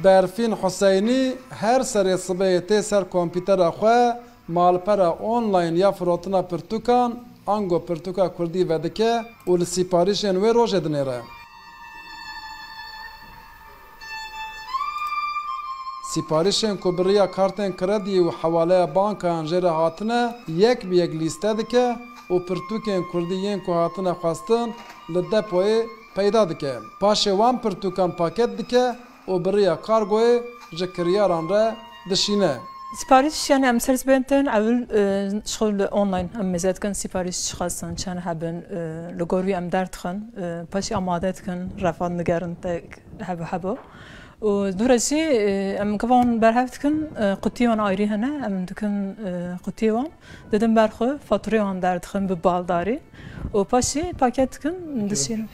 Berfîn Huseynî her serê sibehê tê ser kompîtera xwe malpera online ya firotina pirtûkan ango pirtûka kurdî vedike û li sîparîşên wê rojê dinêre. Sîparîşên ku bi riya kartên kredî û hewaleya bankayan jê re hatine, yek bi yek lîste dike û pirtûkên kurdî yên ku hatine xwestin li depoyê peyda dike. Paşê wan pirtûkan paket dike û bi riya kargoyê ji kiryaran re dişîne. Siparîş yan em ser sibên din ewil ji xwe li online em mêze dikin siparîş çi xwestin çend hebin li gor wî em derdixin paşê amade dikin refa digerin te hebo hebo û dû re jî em givan berhev dikin qutiyan ayrî hene em dikin qutiyê wan. Didim ber xwe, fatureyê wan derdixim bi baldarî û paşî paket dikim dişînim.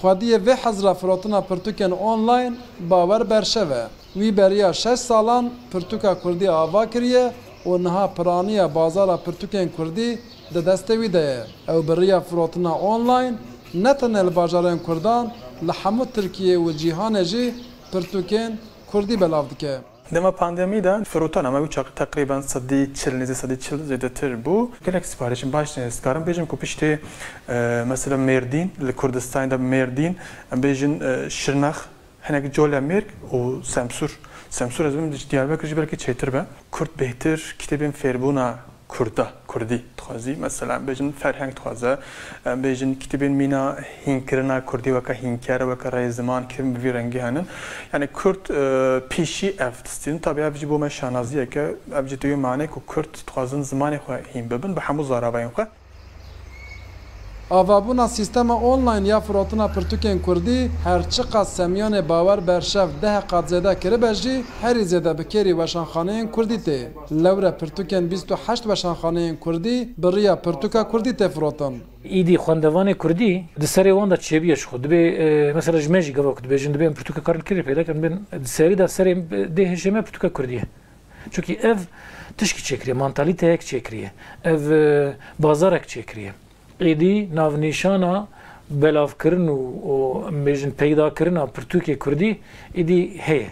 Xwediyê vê hezira firotina pirtûkên online bawer berşev e. Wî beriya şeş salan pirtûka kurdî ava kiriye û niha piraniya bazara pirtûkên kurdî di destê wî de ye. Ew bi riya firotina online ne tenê li bajarên kurdan li hemû Tirkiyê û cîhanê jî pirtûkên kurdî belav dike. Dema pandemî de firotana me wî teqrîben sedî çil nêzî sedî çil zêdetir bû. Gelek sipariş in baş ne ez dikarim bêjim ku piştê mesela Mêrdîn li Kurdistanê de Mêrdîn em bêjin Şirnex hinek Colemêrg û Semsûr Semsûr ez bidim Diyarbekir jî belkî çêtir be Kurd bêhtir kitêbên fêrbûna Kurda, kurdî dixwazî mesela bêjin ferheng dixwaze em bêjin kitêbên mîna hînkirina kurdî weke hînkere weke reyê ziman kitêbên bi vî rengî hene yanî kurd pîşî ev distînin tabî ev jî bo me şanaziyeke ev jî têyo manê ku kurd dixwazin zimanê xwe hîn bibin bi hemû zaravayên xwe. Avabûna sîstema online ya firotina pirtûkên kurdî her çiqas semyanê bawer berşev deh qat zêde kiribe jî, herî zêde bi kêrî weşanxaneyên kurdî tê. Lewre pirtûkên bîst û heşt weşanxaneyên kurdî bi riya pirtûka kurdî tê firotin. Îdî xwendevanê kurdî di serê wan de çêbûye ji xwe. Dibê mesela ji me jî gava ku dibêjin dibê em pirtûka karin kurdî peyda kirin, bên di serî de serê dê hişê me pirtûka kurdî ye. Çunkî ev tişkî çêkiriye, mantalîteyek çêkiriye, ev bazarek çêkiriye. Êdî navnîşana belavkirin û em bêjin peydakirina pirtûkê kurdî êdî heye.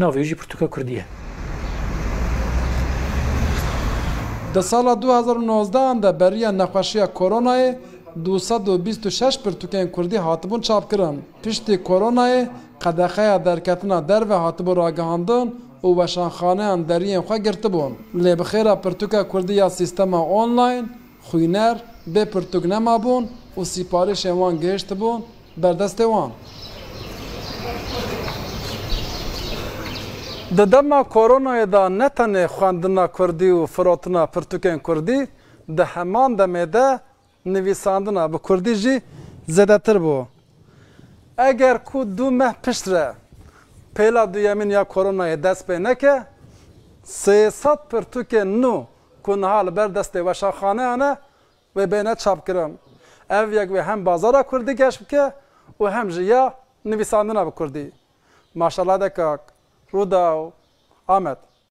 Navê wî jî pirtûka kurdî ye. Di sala du hezar û nozdehan de beriya nexweşiya koronayê du sed û bîst û şeş pirtûkên kurdî hatibûn çapkirin. Piştî koronayê qedexeya derketina derve hatibû ragihandin û weşanxaneyan deriyên xwe girtibûn. Lê bi xêra pirtûka kurdî ya sîstema online, xwîner bê pirtûk nemabûn û sîparîşên wan gihiştibûn ber destê wan. Di dema koronayê de ne tenê xwendina kurdî û firotina pirtûkên kurdî, di heman demê de Nivîsandina bi kurdî jî zêdetir bû. Eger ku du meh pişt re pêla duyemîn ya koronayê dest pê neke, sê sed pirtûkên nû ku niha li ber destê weşanxaneyan e wê bêne çapkirin. Ev yek wê hem bazara kurdî geş bike û hem jî ya nivîsandina bi kurdî. Maşallah de kak. Rûdaw, Amed.